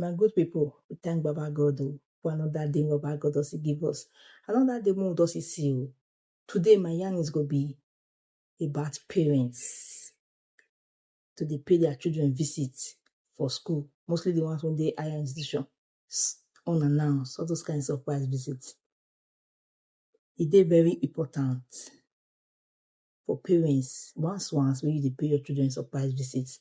My good people, we thank Baba God oh, for another day Baba God does give us. Another day more does he see you. Today my yarn is gonna be about parents to dey pay their children visit for school, mostly the ones from the higher institution. s- unannounced, all those kind of surprise visits. E dey very important for parents once once when you dey pay your children surprise visits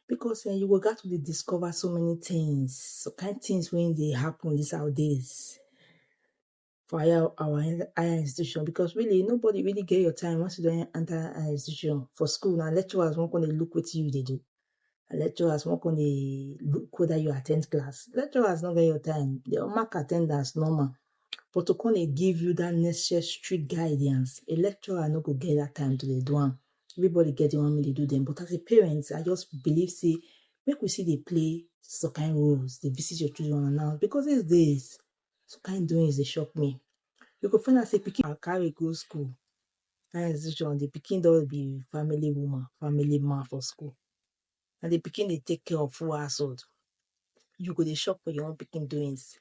because eh, you go get to dey discover so many things, so kind things when dey happen these our days. for higher our higher institution because really nobody really get your time once you don enter higher institution for school na lecturers wan come dey look wetin you dey do and lecturers wan come dey look whether you at ten d class lecturers no get your time they will mark at ten dance normal but to come dey give you that necessary guidance a lecturer no go get that time to dey do am everybody get the one make they do them but as a parent I just believe say make we still dey play some kind roles dey visit your children and all because these days Some kind doings dey shock me. You go find out say pikin I carry go school. That institution, the pikin don be family woman, family man for school. And the pikin dey take care of full household. You go dey shock for your own pikin doings.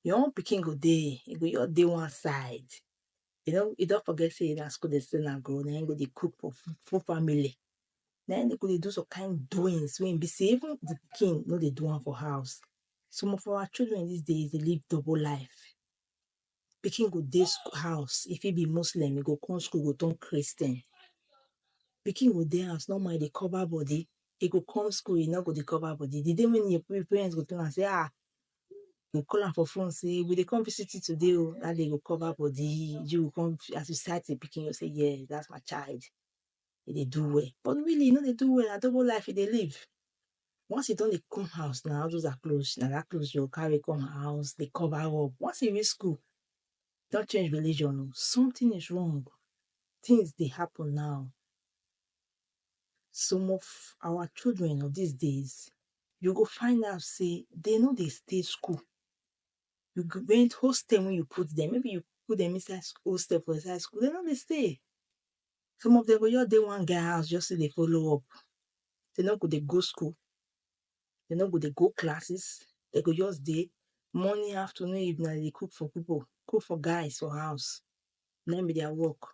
Your own pikin go dey, e go just dey one side. e no e don forget say na school dey send am go na him go dey cook for full full family na him dey go dey do some kind doings wey e be say even the pikin no dey do am for house some of our children this days dey live double life pikin go dey school house e fit be muslim e go come school e go turn christian pikin go dey house normal e dey cover body e go come school e no go dey cover body the day wey him parents go tell am say ah go call am for phone say we dey come visit you today oh, that day you go cover body, you go come as you sight the pikin, you say yes, that's my child, e dey do well, but really e no dey do well, na double life e dey live, once e don dey come house na all those her clothes, na that clothes you go carry come her house dey cover up, once e reach school, e don change religion oh, something is wrong, things dey happen now, Some of our children of these days, you go find out say they no dey stay school. You go when hostel when you put them, maybe you put them inside sc- hostel for inside school, they no dey stay. Some of them go just dey one guy house just to dey follow up. They no go dey go school. They no go dey go classes. They go just dey morning, afternoon, evening, they dey cook for people, cook for guys for house. Na im be their work.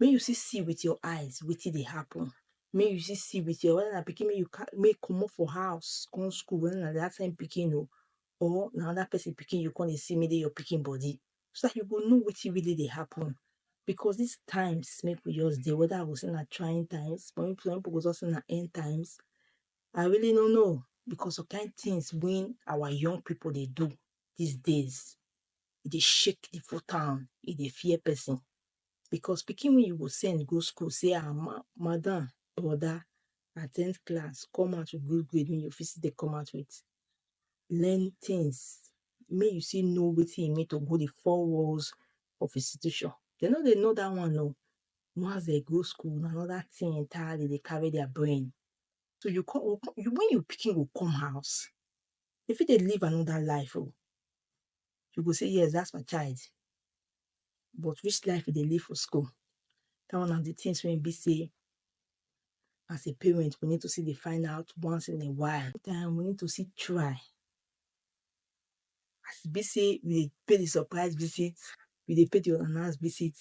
make you still see with your eyes wetin dey happen make you still see with your whether na pikin make you carry make you comot for house come school whether na that time pikin oo or na another person pikin you go come dey see make dey your pikin body so that you go know wetin really dey happen because this times make we just dey whether I go say na trying times some people go just say na end times I really no know because some kind things wey our young people dey do this days e dey shake the full town e dey fear person because pikin wey you go send go school say ah ma madam, broda at ten d class come out with good grade wey you fit still dey come out with learn things make you still know wetin e mean to go the four walls of institution. Dem no dey know that one oo once dem go school na another thing entirely dem dey carry their brain so you come you come when your pikin go come house e fit dey live another life oo you go say yes that's my child but which life e dey live for school that one na the things wey e be say as a parent we need to see dey find out once in a while then we need to see try as e be say we dey pay the surprise visit we dey pay the unannounced visit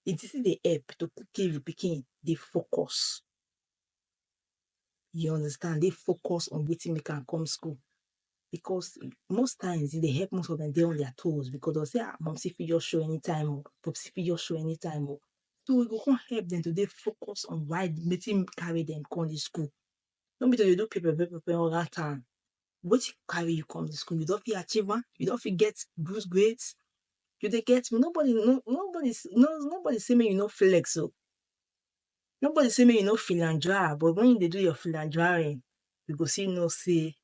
it still dey help to keep the pikin dey focus You understand? They focus on waiting they can come school. Because most times they help most of them they on their toes because they'll say, ah, mom, see if you show anytime or pop see if you show anytime or so we go come help them to they focus on why making carry them come to school. No be to you do paper paper paper all that time. What you carry you come to school, you don't feel achieve one, you don't feel get good grades, you they get me. Nobody no nobody no nobody see me, you know flex so. Nobody say make you no philandra but when you dey do your philandraring, you go still know say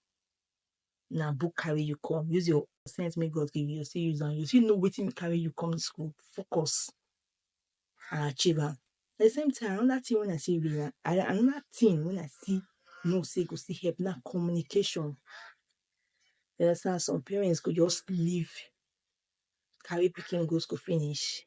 na book carry you come. Use your sense make God give you, you still use am. You still know wetin carry you come school. Focus and achieve am. At the same time, another thing when I see real another thing when I see know say go still help na communication. You understand? Some parents go just leave carry pikin go school finish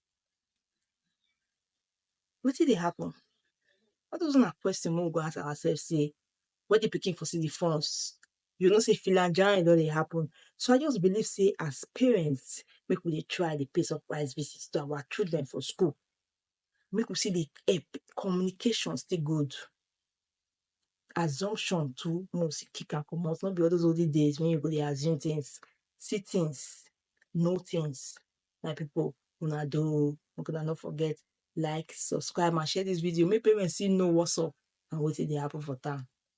Wetin dey happen? All those na question wey we go ask ourself sey when the pikin for see the funds, you go know sey filanjayin don dey happen. So I just believe sey as parents, make we dey try dey pay surprise visit to our children for school. Make we still dey help. Communication still good. Assumption too, make we still kick am comot. No be all those olden days wey you go dey assume things, see things, know things. my people una do o make una no forget like subscribe and share this video make parents still know what's up and wetin dey happen for town